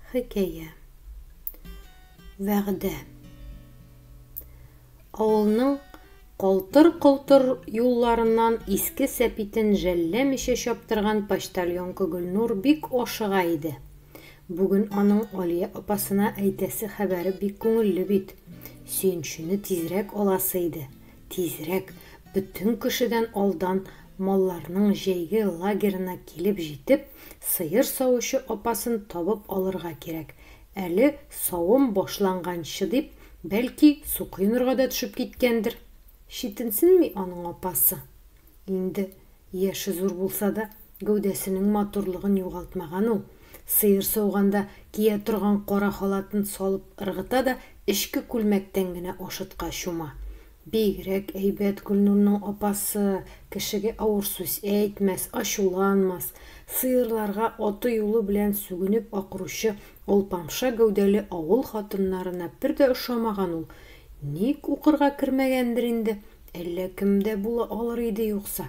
Хикәя. Вәгъдә. Авылның калтыр-колтыр юлларыннан иске сәпитен жәлләмичә чаптырган почтальонка Гөлнур бик ашыга иде. Бүген аның Алия апасына әйтәсе хәбәре бик күңелле бит. Сөенчене тизрәк аласы иде. Тизрәк, бөтен кешедән алдан малларның җәйге лагерына килеп җитеп, сыер савучы апасын табып алырга кирәк. Әле савым башланганчы дип, бәлки, су коенырга да төшеп киткәндер. Читенсенми аның апасы. Инде Яше зур булса да, гәүдәсенең матурлыгын югалтмаган ул. Сыер сауганда кия торган кара халатын салып ыргыта да эчке күлмәктән генә ашытка чума. Бигрәк әйбәт Гөлнурның апасы, кешегә авыр сүз әйтмәс, ачуланмас. Сыерларга аты юлы белән сүгенеп акыручы алпамша гәүдәле авыл хатыннарына бер дә ошамаган ул. Ник укырга кермәгәндер инде, Әллә кем дә була алыр иде юкса.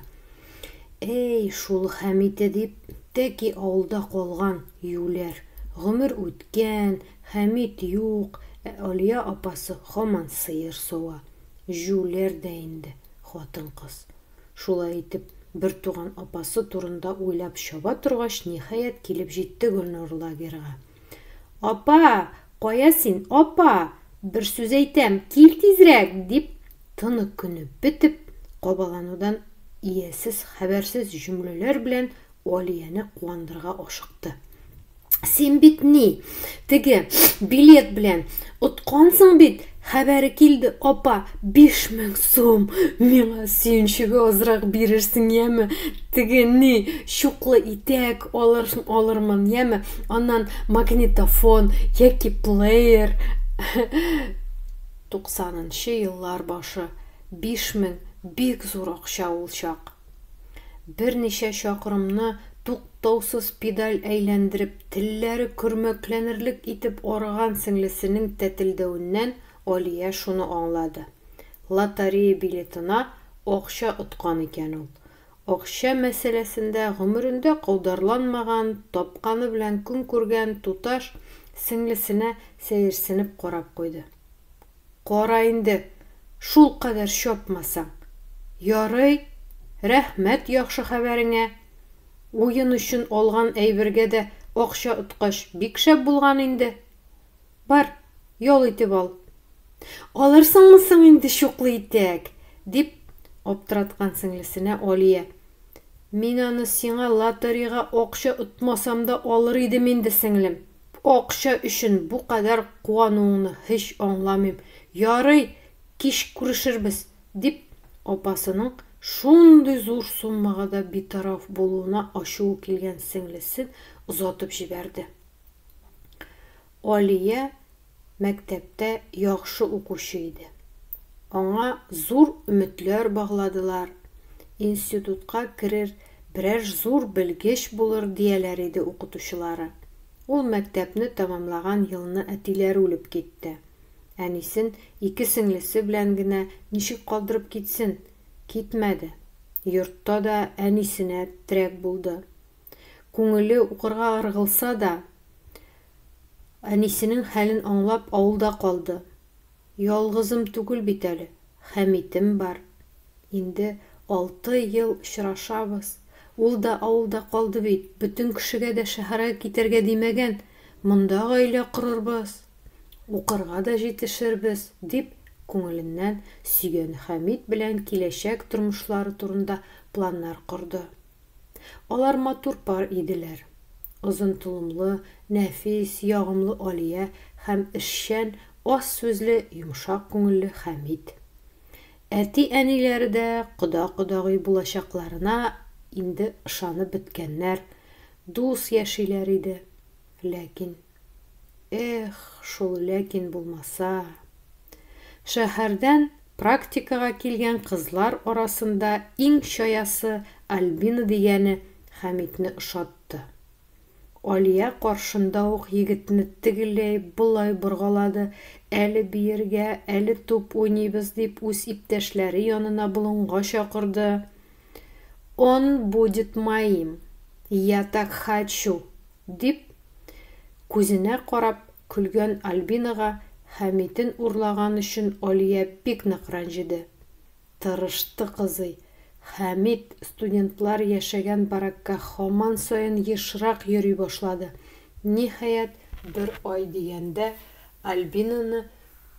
Әй, шул Хәмите дип, тәки авылда калган, юләр. Гомер үткән, Хәмит юк, ә Алия апасы һаман сыер сава. Җүләр дә инде, хатын-кыз. Шулай итеп, бертуган апасы турында уйлап чаба торгач, ниһаять, килеп җитте Гөлнур лагерьга. Апа, кая син, апа, бер сүз әйтәм, кил тизрәк! дип, тыны-көне бетеп, кабаланудан иясез-хәбәрсез җөмләләр белән Алияне куандырырга ашыкты. Син бит ни, теге билет белән откансың бит, Хәбәре килде, апа, биш мең сум! Миңа сөенчегә азрак бирерсең, яме? Теге, ни, чуклы итәк алыр, алырмын, яме? Аннан магнитофон яки плеер. Туксанынчы еллар башы. Биш мең, бик зур акча ул чак. Берничә чакрымны туктаусыз педаль әйләндереп, телләре көрмәкләнерлек итеп арыган сеңлесенең тәтелдәвеннән Алия шуны аңлады, лоторея билетына акча откан икән ул. Акча мәсьәләсендә гомерендә каударланмаган, тапканы белән көн күргән туташ сеңлесенә сәерсенеп карап куйды. Кара инде, шулкадәр чапмасаң. Ярый, рәхмәт яхшы хәбәреңә. Уен өчен алган әйбергә дә акча откач, бик шәп булган инде. Бар, ял итеп ал. Алырсыңмы соң инде чуклы итәк? дип аптыраткан сеңлесенә Алия. Мин аны сиңа лотерейга акча отмасам да алыр идем инде, сеңлем, Акча өчен бу кадәр куануыңны һич аңламыйм. Ярый, кич күрешербез, дип, апасының шундый зур суммага да битараф булуына ачуы килгән сеңлесен озатып җибәрде. Алия мәктәптә яхшы укучы иде. Аңа зур өметләр багладылар, институтка керер, берәр зур белгеч булыр, дияләр иде укытучылары. Ул мәктәпне тәмамлаган елны әтиләре үлеп китте. Әнисен ике сеңлесе белән генә ничек калдырып китсен? Китмәде. Йортта да әнисенә терәк булды. Күңеле укырга ыргылса да, әнисенең хәлен аңлап авылда калды. Ялгызым түгел бит әле, Хәмитем бар. Инде алты ел очрашабыз. Ул да авылда калды бит, бөтен кешегә дә шәһәргә китәргә димәгән, монда гаилә корырбыз, укырга да җитешербез, дип күңеленнән сөйгән Хәмит белән киләчәк тормышлары турында планнар корды. Алар матур пар иделәр. Озын толымлы, нәфис, ягымлы Алия һәм эшчән, аз сүзле, йомшак күңелле Хәмит. Әти-әниләре дә кода-кодагый булачакларына инде ышанып беткәннәр, дус яшиләр иде. Ләкин. Эх, шул ләкин булмаса. Шәһәрдән практикага килгән кызлар арасында иң чаясы Альбина дигәне Хәмитне ошатты. Алия каршында ук егетне тегеләй-болай боргалады, әле биергә, әле туп уйныйбыз дип үз иптәшләре янына болынга чакырды. Он будет моим. Я так хочу. Дип, күзенә карап көлгән Альбинага Хәмитен урлаган өчен Алия бик нык рәнҗеде. Тырышты кызый. Хәмит студентлар яшәгән баракка һаман саен ешрак йөри башлады. Ниһаять, бер ай дигәндә Альбинаны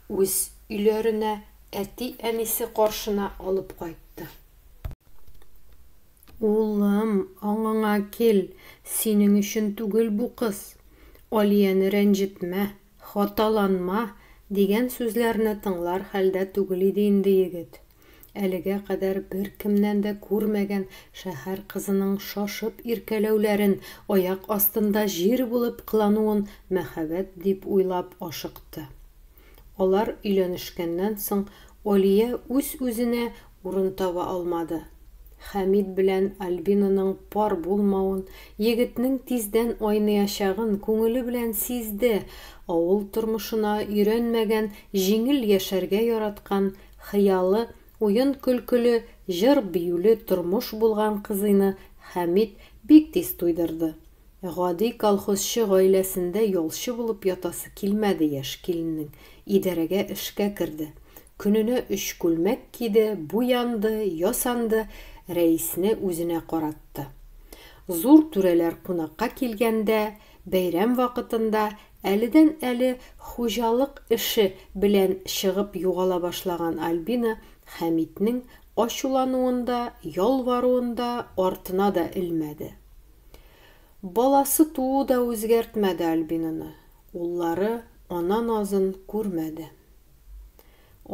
үз өйләренә, әти-әнисе каршына алып кайтты. Улым, аңыңа кил, синең өчен түгел бу кыз. Алияне рәнҗетмә, хаталанма, дигән сүзләрне тыңлар хәлдә түгел иде инде егет. Әлегә кадәр беркемнән дә күрмәгән шәһәр кызының шашып иркәләүләрен, аяк астында җир булып кылануын мәхәббәт дип уйлап ашыкты. Алар өйләнешкәннән соң Алия үз-үзенә урын таба алмады. Хәмит белән Альбинаның пар булмавын, егетнең тиздән айныячагын күңеле белән сизде, авыл тормышына өйрәнмәгән, җиңел яшәргә яраткан, хыялы, уен-көлкеле, җыр-биюле тормыш булган кызыйны Хәмит бик тиз туйдырды. Гади колхозчы гаиләсендә ялчы булып ятасы килмәде яшь киленнең, идарәгә эшкә керде. Көненә өч күлмәк киде, буянды, ясанды, рәисне үзенә каратты. Зур түрәләр кунакка килгәндә, бәйрәм вакытында әледән-әле хуҗалык эше белән чыгып югала башлаган Альбина Хәмитнең ачулануын да, ялваруын да артына да элмәде. Баласы туу да үзгәртмәде Альбинаны, уллары ана назын күрмәде.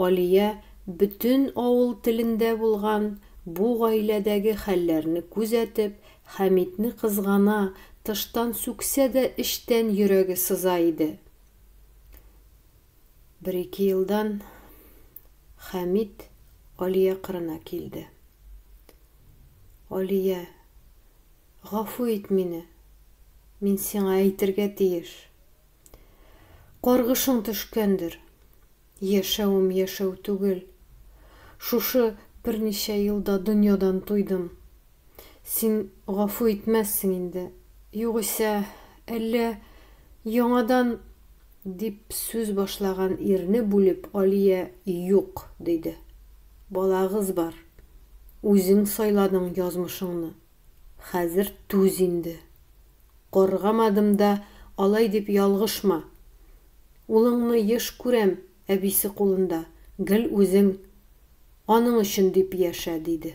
Алия бөтен авыл телендә булган бу гаиләдәге хәлләрне күзәтеп, Хәмитне кызгана, тыштан сүксә дә эчтән йөрәге сыза иде. Бер-ике елдан Хәмит Алия кырына килде. Алия, гафу ит мине, мин сиңа әйтергә тиеш. Каргышың төшкәндер. Яшәвем яшәү түгел. Шушы берничә елда дөньядан туйдым. Син гафу итмәссең инде. Югыйсә, әллә яңадан Дип сүз башлаган ирне бүлеп Алия Юк, диде. Балагыз бар. Үзең сайладың язмышыңны. Хәзер түз инде. Каргамадым да алай дип ялгышма. Улыңны еш күрәм әбисе кулында, гел үзең аның өчен дип яшә, диде.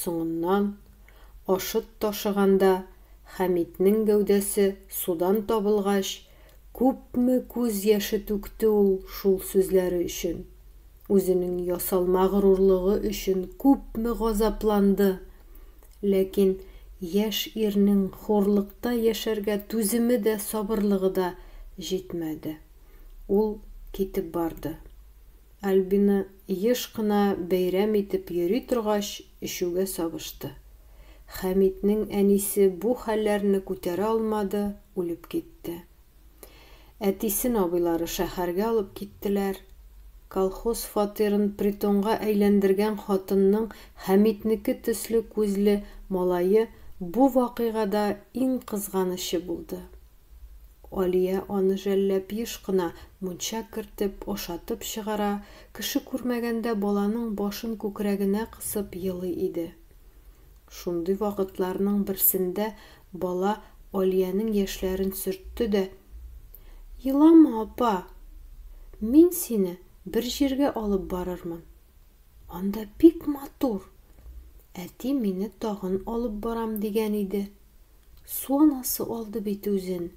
Соңыннан, Ашыт ташыганда Хәмитнең гәүдәсе судан табылгач, күпме күз яше түкте ул шул сүзләре өчен, үзенең ясалма горурлыгы өчен күпме газапланды! Ләкин яшь ирнең хурлыкта яшәргә түземе дә, сабырлыгы да җитмәде. Ул китеп барды. Альбина Еш кына бәйрәм итеп йөри торгач, эчүгә сабышты. Хәмитнең әнисе бу хәлләрне күтәрә алмады, үлеп китте. Әтисен абыйлары шәһәргә алып киттеләр. Колхоз фатирын притонга әйләндергән хатынның Хәмитнеке төсле күзле малае бу вакыйгада иң кызганычы булды. Алия аны жәлләп еш кына мунча кертеп, ашатып чыгара, кеше күрмәгәндә баланың башын күкрәгенә кысып елый иде. Шундый вакытларның берсендә бала Алиянең яшьләрен сөртте дә, Елама, апа! Мин сине бер җиргә алып барырмын. Анда бик матур. Әти мине тагын алып барам дигән иде. Су анасы алды бит үзен.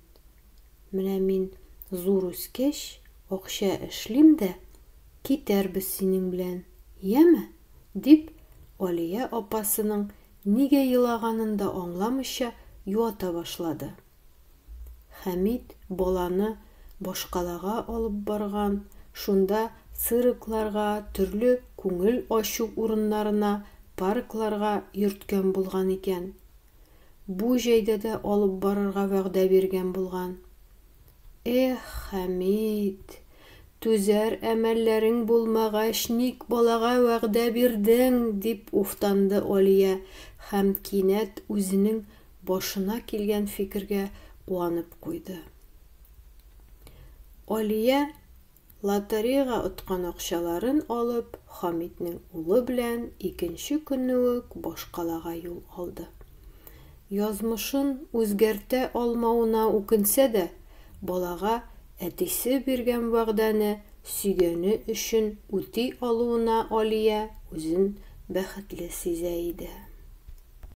Менә мин зур үскәч, акча эшлим дә, китәрбез синең белән, яме? дип, Алия апасының нигә елаганын да аңламыйча юата башлады. Хәмит баланы башкалага алып барган, шунда циркларга, төрле күңел ачу урыннарына, паркларга йөрткән булган икән. Бу җәйдә дә алып барырга вәгъдә биргән булган. Эх, Хәмит, түзәр әмәлләрең булмагач, ник балага вәгъдә бирдең? дип уфтанды Алия һәм кинәт үзенең башына килгән фикергә куанып куйды. Алия Лотереяга откан акчаларын алып, Хамитнең улы белән икенче көнне үк башкалага юл алды. Язмышын үзгәртә алмавына үкенсә дә, балага әтисе биргән вәгъдәне сөйгәне өчен үти алуына Алия үзен бәхетле сизә иде.